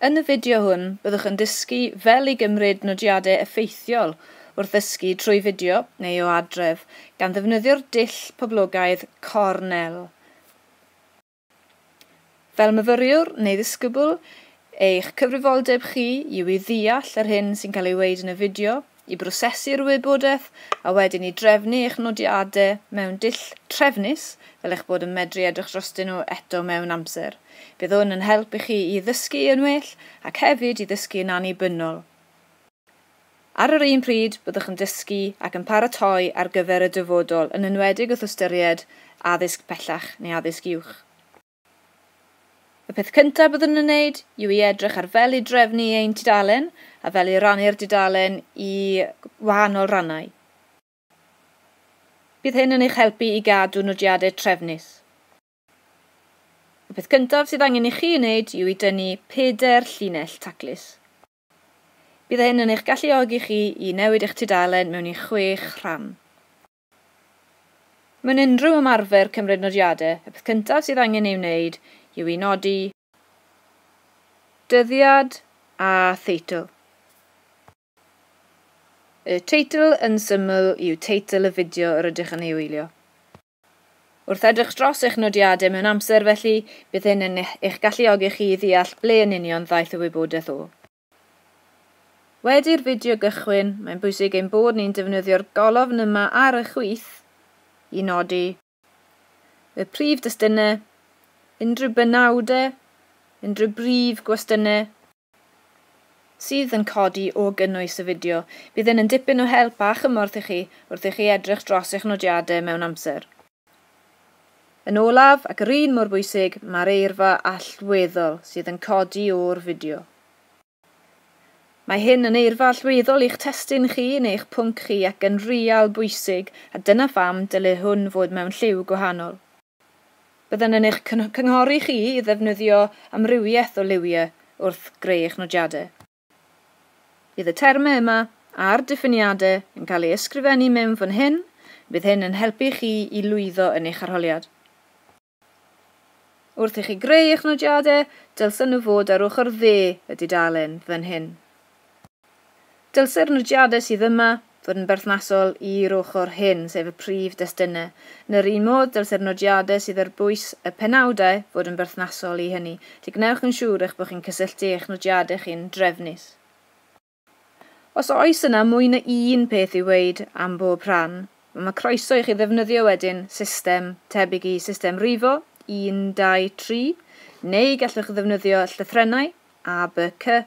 Yn y fideo hwn, byddwch yn dysgu fel i gymryd nodiadau effeithiol wrth ddysgu trwy fideo neu o adref, gan ddefnyddio'r dull poblogaidd Cornell. Fel myfyriwr neu ddisgybl, eich cyfrifoldeb chi yw i ddeall yr hyn sy'n cael ei weud yn y fideo, i brosesu'r wybodaeth a wedyn i drefnu eich nodiadau mewn dull trefnus fel eich bod yn medru edrych drostyn nhw eto mewn amser. Bydd hwn yn help i chi i ddysgu yn well ac hefyd i ddysgu yn annibynnol. Ar yr un pryd, byddwch yn dysgu ac yn paratoi ar gyfer y dyfodol, yn enwedig wrth ystyried addysg pellach neu addysg uwch. Y peth cyntaf byddwn yn wneud yw i edrych ar fel i drefnu ein tudalen a fel i rannu'r dudalen i wahanol rannau. Bydd hyn yn eich helpu i gadw nodiadau trefnus. Y peth cyntaf sydd angen i chi wneud yw i dynnu pedair llinell taclus. Bydd hyn yn eich galluogi chi i newid eich tudalen mewn i chwech rhan. Mewn unrhyw ymarfer cymryd nodiadau, y peth cyntaf sydd angen ei wneud yw i nodi dyddiad a theitl. Y teitl yn syml yw teitl y fideo yr ydych yn ei wylio. Wrth edrych dros eich nodiadau mewn amser felly, bydd hyn yn eich galluogi chi i ddeall ble yn union ddaeth y wybodaeth o. Wedi'r fideo gychwyn, mae'n bwysig ein bod ni'n defnyddio'r golofn yma ar y chwith i nodi y prif destunau, unrhyw benawdau, unrhyw brif gwestiynau sydd yn codi o gynnwys y fideo. Bydd hyn yn dipyn o help a chymorth i chi wrth i chi edrych dros eich nodiadau mewn amser. Yn olaf, ac yr un mor bwysig, mae'r eirfa allweddol sydd yn codi o'r fideo. Mae hyn yn eirfa allweddol i'ch testun chi neu eich pwnc chi ac yn real bwysig a dyna pham dylai hwn fod mewn lliw gwahanol. Byddwn yn eich cynghori chi i ddefnyddio amrywiaeth o liwiau wrth greu eich nodiadau. Bydd y termau yma a'r diffiniadau yn cael eu ysgrifennu mewn fan hyn, bydd hyn yn helpu chi i lwyddo yn eich arholiad. Wrth i chi greu eich nodiadau, dylsen nhw fod ar ochr dde y dudalen fan hyn. Dylse'r nodiadau sydd yma fod yn berthnasol i'r ochr hyn, sef y prif destunau. Yn yr un modd, dylse'r nodiadau sydd ar bwys y penawdau fod yn berthnasol i hynny. Felly gwnewch yn siŵr eich bod chi'n cysylltu eich nodiadau chi'n drefnus. Os oes yna mwy na un peth i'w ddweud am bob rhan, mae croeso i chi ddefnyddio wedyn system tebyg i System Rifo, un, dau, tri, neu gallwch ddefnyddio llythrennau, A, By, Cy,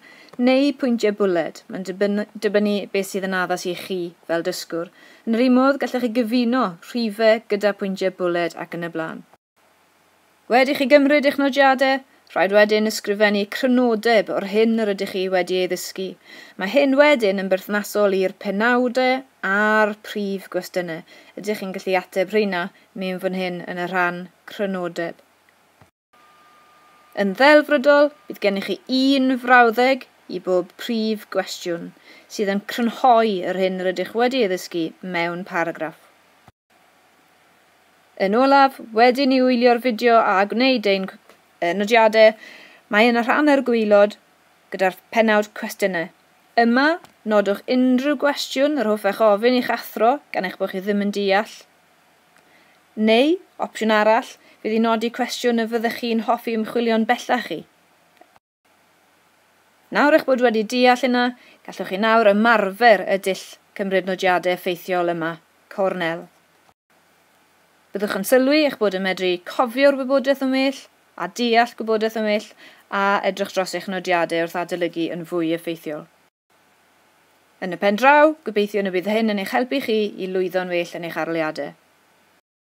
neu pwyntiau bwled, mae'n dibynnu beth sydd yn addas i chi fel dysgwr. Yn yr un modd, gallech chi gyfuno rhifau gyda phwyntiau bwled ac yn y blaen. Wedi chi gymryd eich nodiadau, rhaid wedyn ysgrifennu crynodeb o'r hyn yr ydych chi wedi ei ddysgu. Mae hyn wedyn yn berthnasol i'r penawdau a'r prif gwestiynau. Ydych chi'n gallu ateb rheina? Mewn fan hyn yn y rhan Crynodeb. Yn ddelfrydol, bydd gennych chi un frawddeg i bob prif gwestiwn, sydd yn crynhoi yr hyn rydych wedi ei ddysgu mewn paragraff. Yn olaf, wedyn ni wylio'r fideo a gwneud ein nodiadau, mae yna rhan ar y gwaelod gyda'r pennawd Cwestiynau. Yma, nodwch unrhyw gwestiwn yr hoffech ofyn i'ch athro gan eich bod chi ddim yn deall Neu, opsiwn arall, fydd i nodi cwestiwn y fyddech chi'n hoffi ymchwilio'n bellach i. Nawr eich bod wedi deall hynna, gallwch chi nawr ymarfer y dull cymryd nodiadau effeithiol yma, Cornel. Byddwch yn sylwi eich bod yn medru cofio'r wybodaeth yn well, a deall gwybodaeth yn well, a edrych dros eich nodiadau wrth adolygu yn fwy effeithiol. Yn y pen draw, gobeithiwn y bydd hyn yn eich helpu chi i lwyddo'n well yn eich arholiadau.